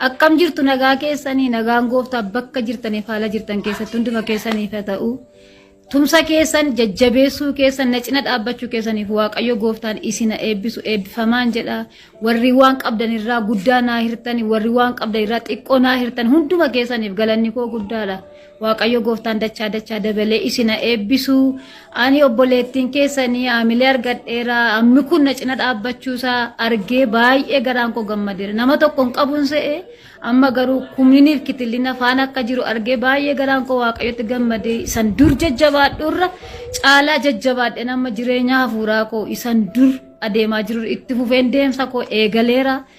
Akkam jirtu nagaa keessanii nagaan gooftaa bakka jirtaniif haala jirtan keessatti hunduma keessaniif haa ta'u. Tumsa keessan jajjabeessuu keessan na cina dhaabbachuu keessaniif waaqayyo gooftaan isin haa eebbisu eebbifamaan jedha. Warri waan qabdan irraa guddaa naa hirtan warri waan qabdan irraa xiqqoo naa hirtan hunduma keessaniif galanni koo guddaadha. Waaqayyo gooftaan dachaa dachaa dabalee isina eebbisu. Ani obboleettiin keessanii haamilee argadheera. Ammi kun na cina dhaabbachuusaa argee baay'ee garaan koo gammadeera. Nama tokko hin qabuun se'e amma garuu kumniiniif kitillina faana akka jiru argee baay'ee garaan koo waaqayyotti gammadee isan dur jajjabaadhuurra caalaa jajjabaadheen amma jireenya hafuuraa koo isan dur adeemaa jiru itti fufeen deemsa koo eegaleera.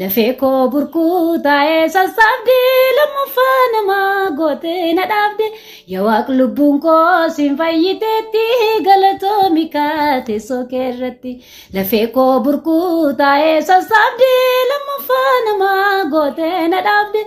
Lafee koo burkuu taa'ee sassaabdee lammaffaa nama gootee na dhaabde yaa waaq lubbuun koo siin fayyiteetti galatoomi kaa teessoo kee irratti lafee koo burkuu taa'ee sassaabdee lammaffaa nama gootee na dhaabde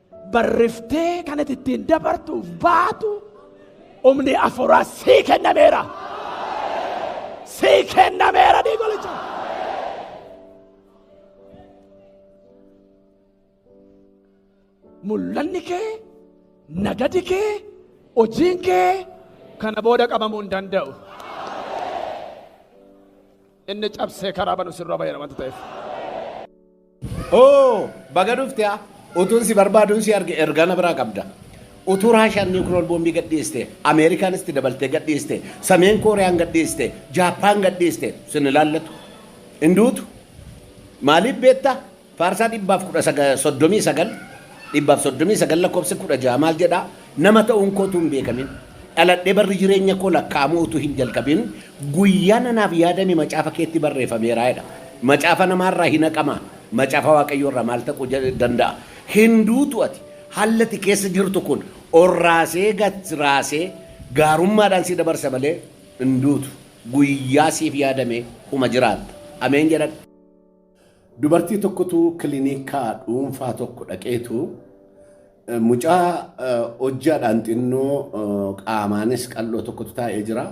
barriftee kan ati ittiin dabartuuf baatu humni afuuraa sii kennameera. Sii kennameera diigolicha. Mul'anni kee, nagadi kee, hojiin kee kana booda qabamuu hin danda'u. Inni cabsee karaa banu sirra bayyana wanta ta'eef. Oo baga dhufte haa utuun si barbaaduun si arge ergaa na biraa qabda. Utuu Raashiyaan niwukiloor boombii gadhiiste, Ameerikaan itti dabaltee gadhiiste, Sameen Kooriyaan gadhiiste, Jaappaan gadhiiste sin ilaallatu. Hin duutu. Maaliif beektaa? Faarsaa dhibbaaf kudha saga- soddomii sagal dhibbaaf soddomii sagal lakkoofsi kudha ja'a maal jedhaa? Nama ta'uun koo utuu hin beekamin, dhaladhee barri jireenya koo lakkaa'amuu utuu hin jalqabin, guyyaan anaaf yaadame macaafa keetti barreefameera jedha. Macaafa namaa irraa hin haqamaa? Macaafa Waaqayyoo irraa maaltu haquu danda'a? Hin duutu ati. Haalli ati keessa jirtu kun ol raasee gad raasee gaarummaadhaan si dabarsa malee hin duutu. Guyyaa siif yaadame uma jiraatta. Ameen jedhadhu. Dubartii tokkotu kilinika dhuunfaa tokko dhaqeetu mucaa hojjaadhaan xinnoo qaamaanis qal'oo tokkotu taa'ee jira.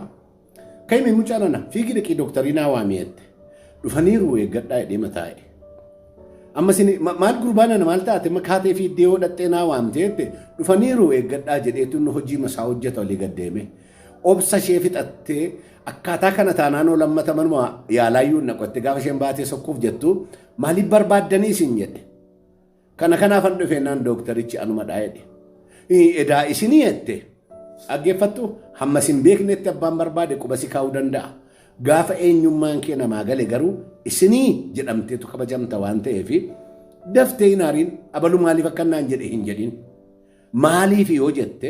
Ka'imee mucaa nana fiigii dhaqii dooktarii naa waamii jette. Dhufaniiru eeggadhaa jedhee mataa'e. Amma isin maal gurbaa nana maal taate makaatee fi iddoo dhaqxee naa waamte jette. Dhufaniiru eeggadhaa jedheetu inni hojii masaa hojjeta olii gad deeme. obsa ishee fixattee akkaataa kana taanaan oo lammata manuma yaalaayyuu naqotte gaafa isheen baatee sokkuuf jettu maaliif barbaaddanii isin jedhe. Kana kanaafan dhufe naan dooktarichi anuma dhaa jedhe. Edaa isinii jette dhaggeeffattu hamma isin beeknetti abbaan barbaade quba si kaa'uu danda'a. Gaafa eenyummaan kee namaa gale garuu isinii jedhamteetu kabajamta waan ta'eef daftee hin haariin abalu maaliif akka naan jedhe hin jedhin. Maaliif yoo jette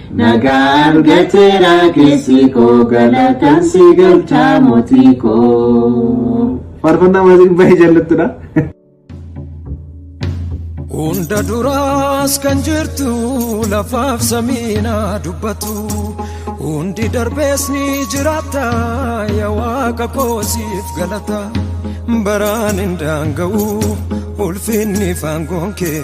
Nagaa argateera keessi koo galataan si galcha mootii koo. Faarfannaa maasiin baay'ee jaallattudha. Hunda duraas kan jirtu lafaaf samiina dubbatu hundi darbees ni jiraata yaa waaqa koosiif galata baraan hin daanga'u ulfinni faangoon kee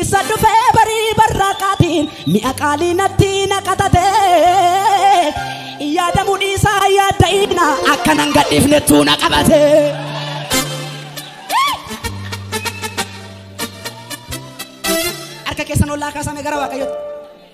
Isa dhufee barii barraaqaatiin mi'a qaalii natti naqatatee yaadamuu dhiisaa yaadda'iina akka nan gadhiifnettuu na qabatee. Harka keessan ollaa kaasame gara waaqayyooti.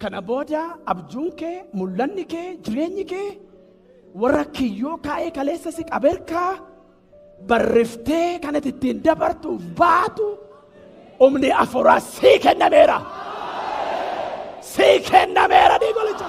Kana booda abjuun kee, mul'anni kee, jireenyi kee warra kiyyoo kaa'ee kaleessa si qaberkaa barreftee kan ati ittiin dabartuuf baatu humni afuuraa sii kennameera. Sii kennameera diigolicha.